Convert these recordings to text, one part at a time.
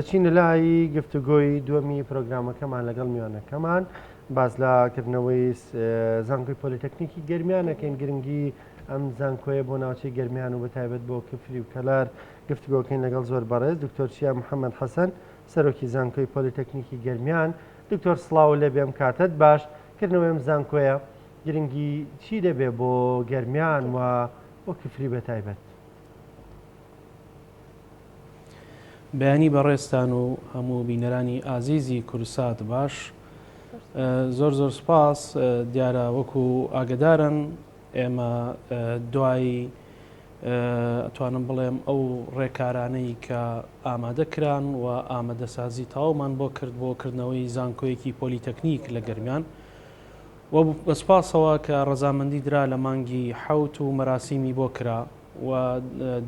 دەچینە لای گفتوگۆی دووەمی پرۆگرامەکەمان لەگەڵ میوانەکەمان باز لە کردنەوەی زانکۆی پۆلیتەکنیکی گەرمیانەکەین گرنگی ئەم زانکۆیە بۆ ناوچەی گەرمیان و بەتایبەت بۆ کفری و کەلار گفتوگۆکەین لەگەڵ زۆر بەڕێز دکتۆر چیا محەممەد حەسەن سەرۆکی زانکۆی پۆلیتەکنیکی گەرمیان دکتۆر سلااو لێ بێم کاتت باش کردنەوەی ئەم زانکۆیە گرنگی چی دەبێ بۆ گەرمیان و بۆ کفری بەتایبەت بەیانی بەڕێزتان و هەموو بینەرانی ئازیزی کورسات باش زۆر زۆر سپاس دیارە وەکو ئاگدارن ئێمە دوایی ئەتوانم بڵێم ئەو ڕێکارانەی کە ئامادە کران و ئامادەسازی تاومان بۆ کرد بۆ کردنەوەی زانکۆیەکی پۆلیتەکنیک لە گەرمیان و بەسپاسەوە کە ڕەزامەندی درا لە مانگی حوت و مەراسیمی بۆ کرا و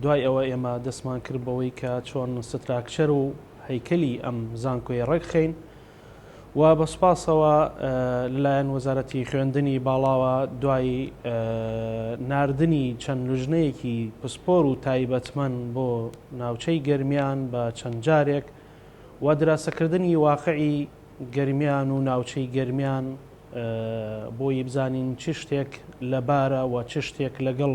دوای ئەوە ئێمە دەستمان کرد بەوەی کە چۆن ستراکچەر و هەیکەلی ئەم زانکۆیە ڕێکخەین و بە سپاسەوە لەلایەن وەزارەتی خوێندنی باڵاوە دوای ناردنی چەند لوژنەیەکی پسپۆر و تایبەتمەن بۆ ناوچەی گەرمیان بە چەند جارێک و دراسەکردنی واقعی گەرمیان و ناوچەی گەرمیان بۆی بزانین چ شتێک لەبارە و چ شتێک لەگەڵ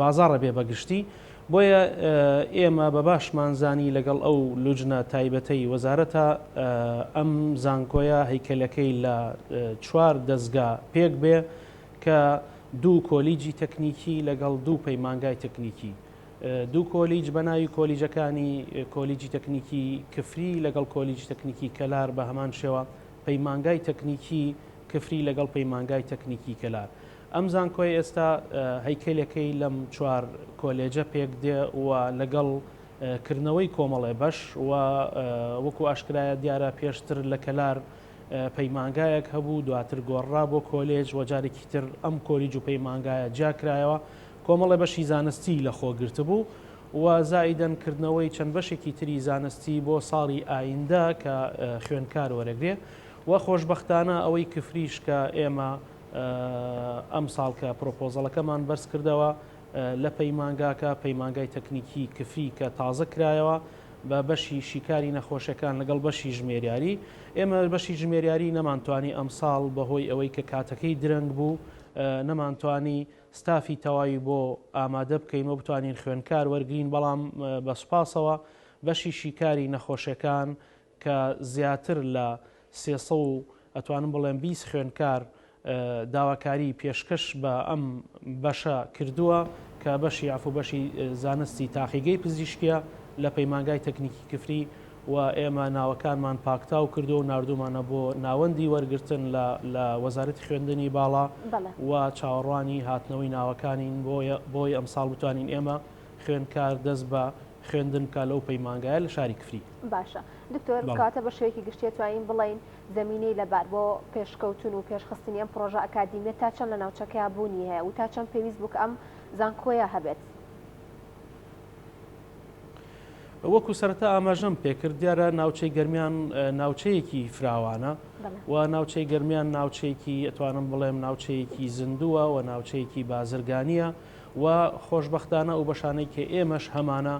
بازاڕە بێ بەگشتی، بۆیە ئێمە بە باشمان زانی لەگەڵ ئەو لوجنە تایبەتەی وەزارەتە ئەم زانکۆیە هەیکەلەکەی لە چوار دەزگا پێک بێ کە دوو کۆلیجی تەکنیکی لەگەڵ دوو پەیمانگای تەکنیکی دوو کۆلیج بە ناوی کۆلیجەکانی کۆلیجی تەکنیکی کفری لەگەڵ کۆلیجی تەکنیکی کەلار بە هەمان شێوە پەیمانگای تەکنیکی کفری لەگەڵ پەیمانگای تەکنیکی کەلار ئەم زانکۆیە ئێستا هەیکەلەکەی لەم چوار کۆلێجە پێک دێ و لەگەڵ کردنەوەی کۆمەڵێ بەش و وەکو ئاشکرایە دیارە پێشتر لە کەلار پەیمانگایەک هەبوو دواتر گۆڕرا بۆ کۆلێج و جارێکی تر ئەم کۆلیج و پەیمانگایە جیا کرایەوە کۆمەڵێ بەشی زانستی لە خۆ گرتبوو و زائیدەن کردنەوەی چەند بەشێکی تری زانستی بۆ ساڵی ئایندە کە خوێندکار وەرەگرێ و خۆشبەختانە ئەوەی کفریش کە ئێمە ئەمساڵ کە پرۆپۆزەڵەکەمان بەرزکردەوە لە پەیمانگاکە، پەیمانگای تەکنیکی کفری کە تازە کرایەوە بە بەشی شیکاری نەخۆشەکان لەگەڵ بەشی ژمێریاری، ئێمە بەشی ژمێریاری نەمانتوانی ئەمساڵ بەهۆی ئەوەی کە کاتەکەی درەنگ بوو نەمانتوانی ستافی تەواوی بۆ ئامادە بکەین و بتوانین خوێندکار وەرگرین، بەڵام بە سوپاسەوە بەشی شیکاری نەخۆشەکان کە زیاتر لە سێ سەد و ئەتوانم بڵێم بیست خوێندکار داواکاری پێشکەش بە ئەم بەشە کردووە کە بەشی عفو بەشی زانستی تاقیگەی پزیشکیە لە پەیمانگای تەکنیکی کفری و ئێمە ناوەکانمان پاکتاو کردو و ناردومانە بۆ ناوەندی وەرگرتن لە وەزارەتی خوێندنی باڵا و چاوەڕوانی هاتنەوەی ناوەکانین بۆیە بۆی ئەمساڵ بتوانین ئێمە خوێندکار دەست بە خوێندن بکات لەو پەیمانگایە لە شاری کفری. باشە دکتۆر کەواتە بە شێوەیەکی گشتی ئەتوانین بڵێین زەمینەی لەبار بۆ پێشکەوتن و پێشخستنی ئەم پڕۆژە ئەکادیمیە تا چەند لە ناوچەکەیا بوونی هەیە و تا چەند پێویست بوو کە ئەم زانکۆیە هەبێت؟ وەکو سەرەتا ئاماژەم پێکرد دیارە ناوچەی گەرمیان ناوچەیەکی فراوانە و ناوچەی گەرمیان ناوچەیەکی ئەتوانم بڵێم ناوچەیەکی زیندووە و ناوچەیەکی بازرگانیە وە خۆشبەختانە ئەو بەشانەی کە ئێمەش هەمانە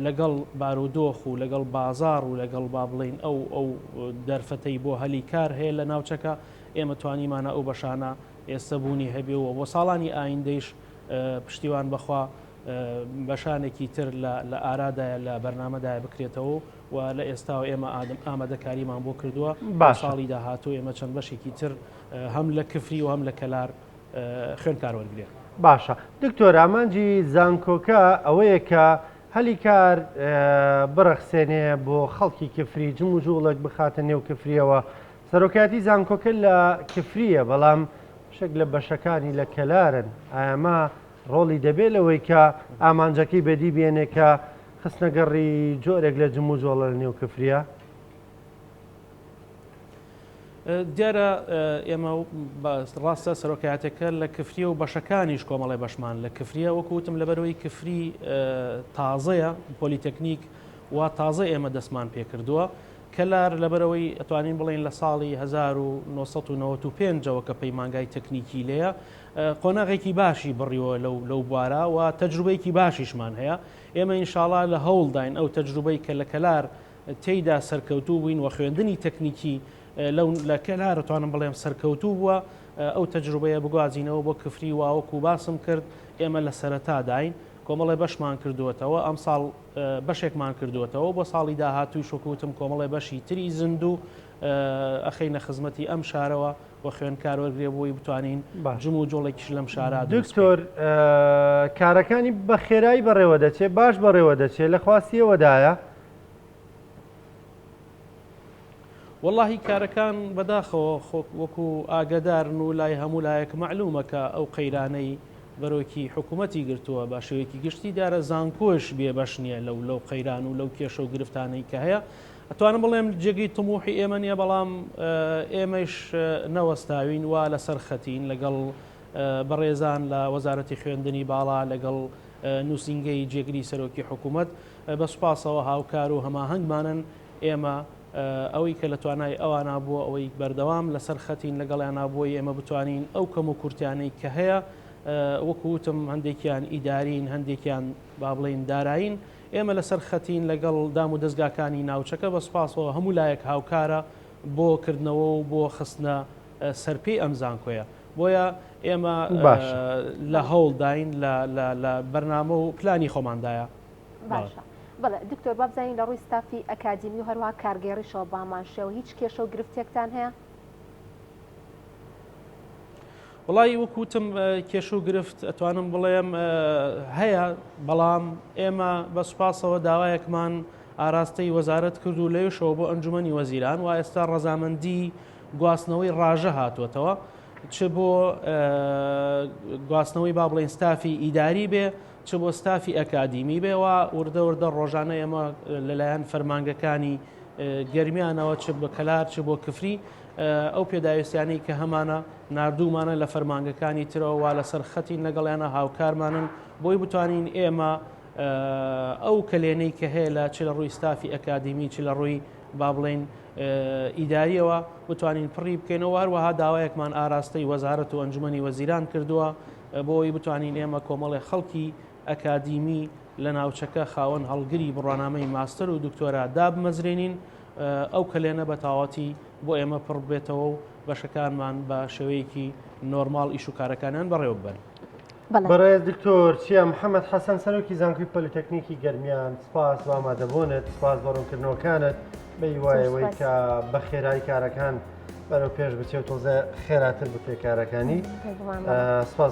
لەگەڵ بارودۆخ و لەگەڵ بازاڕ و لەگەڵ با بڵێین ئەو ئەو دەرفەتەی بۆ هەلی کار هەیە لە ناوچەکە ئێمە توانیمانە ئەو بەشانە ئێستە بوونی هەبێ و بۆ ساڵانی ئایندەیش پشتیوان بەخوا بەشانێکی تر لە ئارادایە لە بەرنمەدای بکرێتەوە و لە ئێستاوە ئێمە ئادم ئامادەکاریمان بۆ کردووە با ساڵی داهاتوو ئێمە چەند بەشێکی تر هەم لە کفری و هەم لە کەلار خوێندکار وەرگرێ. باشە دکتۆر ئامانجی زانکۆکە ئەوەیە کە هەلی کار بڕەخسێنێ بۆ خەڵکی کفری جم و جوڵک بخاتە نێو کفریەوە سەرۆکایەتی زانکۆکە لە کفریە بەڵام شک لە بەشەکانی لە کەلارن ئاما ڕۆڵی دەبێت لەوەی کە ئامانجەکەی بەدی بێنێ کە خستنەگەڕی جۆرێک لە جم و جۆڵە لە نێو کفریە دیارە ئێمە و ڕاستە سەرۆکایەتەکە لە کفریە و بەشەکانیش کۆمەڵی بەشمان لە کفریە وەکوتم لەبەرەوەی کفری تازەیە پۆلیتەکنیک و تازە ئێمە دەستمان پێکردووە کەلار لەبەرەوەی ئەتوانین بڵین لە ساڵی 1995ەوە کە پەیمانگای تەکنیکی لەیە قۆناغێکی باشی بڕیوە لەو لەو بوارە و تەجروبەیەکی باشیشمان هەیە ئێمە ئینشاڵا لە هەوڵداین ئەو تەجروبەی کە لە کەلار تێیدا سەرکەوتوو بووین و خوێندنی تەکنیکی لەو لە کەلار توانم بڵێم سەرکەوتوو بووە ئەو تەجروبەیە بگوازینەوە بۆ کفری واوەکو باسم کرد ئێمە لە سەرەتاداین کۆمەڵێ بەشمان کردووەتەوە ئەم ساڵ بەشێکمان کردووەتەوە بۆ ساڵی داهاتووی شکوتم کۆمەڵێ بەشی تری زیندوو ئەخینە خزمەتی ئەم شارەوە و خوێنکار وەرگێ بووی بتوانین جم و جۆڵێکیش لەم شارا دکتۆر کارەکانی بە خێرایی بەڕێوە دەچێت باش بەڕێوە دەچێت لە خواستیەوەدایە وەڵاهی کارەکان بەداخەوە خۆک وەکو ئاگەدارن و لای هەموو لایەک مەعلومە کە ئەو قەیرانەی بەرۆکی حکوومەتی گرتووە بە شێوەیەکی گشتی دارە زانکۆش بێ بەش نییە لەو لەو قەیران و لەو کێشە و گرفتانەی کە هەیە ئەتوانم بڵێم جێگەی تموحی ئێمە نیە بەڵام ئێمەش نەوەستاوین وا لەسەر خەتین لەگەڵ بەڕێزان لە وەزارەتی خوێندنی باڵا لەگەڵ نووسنگەی جێگری سەرۆکی حکوومەت بە سوپاسەوە هاوکار و هەماهەنگمانن، ئێمە ئەوەی کە لە توانای ئەوانە بۆ ئەوەی بەردەوام لەسەر خەتین لەگەڵیانا بۆی ئێمە بتوانین ئەو کەم و کورتیانەی کە هەیە وەکو وتم هەندێکیان ئیدارین هەندێکیان با بڵێین دارایین ئێمە لەسەر خەتین لەگەڵ دام و دەستگاکانی ناوچەکە بە سوپاسەوە هەموو لایەک هاوکارە بۆ کردنەوە و بۆ خستنە سەرپێی ئەم زانکۆیە بۆیە ئێمە لە هەوڵداین لە بەرنامە و پلانی خۆماندایە. باشە بەڵێ دکتۆر با بزانین لە ڕووی ستافی ئەکادیمی و هەروها کارگێڕیشەوە بامانشەوە هیچ کێشە و گرفتێکتان هەیە وڵی وەکوتم کێش و گرفت ئەتوانم بڵێم هەیە بەڵام ئێمە بە سوپاسەوە داوایەکمان ئاراستەی وەزارت کرد و لەوشەوە بۆ ئەنجومی وەزیران و ئێستا ڕەزامەندی گواستنەوەی ڕژە هاتووەتەوە چ بۆ گواستنەوەی با بڵێن ستافی ئیداری بێ چ بۆ ستافی ئەکادیمی بێ وا وردە وردە ڕۆژانە ئێمە لەلایەن فەرمانگەکانی گەرمیانەوە چ بە کەلار چ بۆ کفری ئەو پێداویستیانی کە هەمانە نردومانە لە فەرمانگەکانی ترەوە وا لەسەر خەتی لەگەڵیانە هاوکارمانن بۆی بتوانین ئێمە ئەو کەلێنەی کە هەیە لە چ لە ڕووی ستافی ئەکادیمی چ لە ڕووی با بڵین ئیدارییەوە بتوانین پڕی بکەینەوە و هەروەها داوایەکمان ئاراستەی وەزارەت و ئەنجومەنی وەزیران کردووە بۆی بتوانین ئێمە کۆمەڵی خەڵکی ئەکادیمی لە ناوچەکە خاوەن هەڵگری بڕوانامەی ماستەر و دکتۆرا دابمەزرێنین ئەو کەلێنە بە تاواتی بۆ ئێمە پڕ بێتەوە و بەشەکانمان بە شێوەیەکی نۆرمال ئیش و کارەکانیان بەڕێوە ببەن. بەڕێز دکتۆر چیا محەمەد حەسەن سەرۆکی زانکۆی پۆلیتەکنیکی گەرمیان سپاس بۆ ئامادەبوونت سپاس بۆ ڕوونکردنەوەکانت بەیوایەوەی کە بە خێرایی کارەکان بەرەو پێش بچێت تۆزێ خێراتر بکرێت کارەکانی سپاس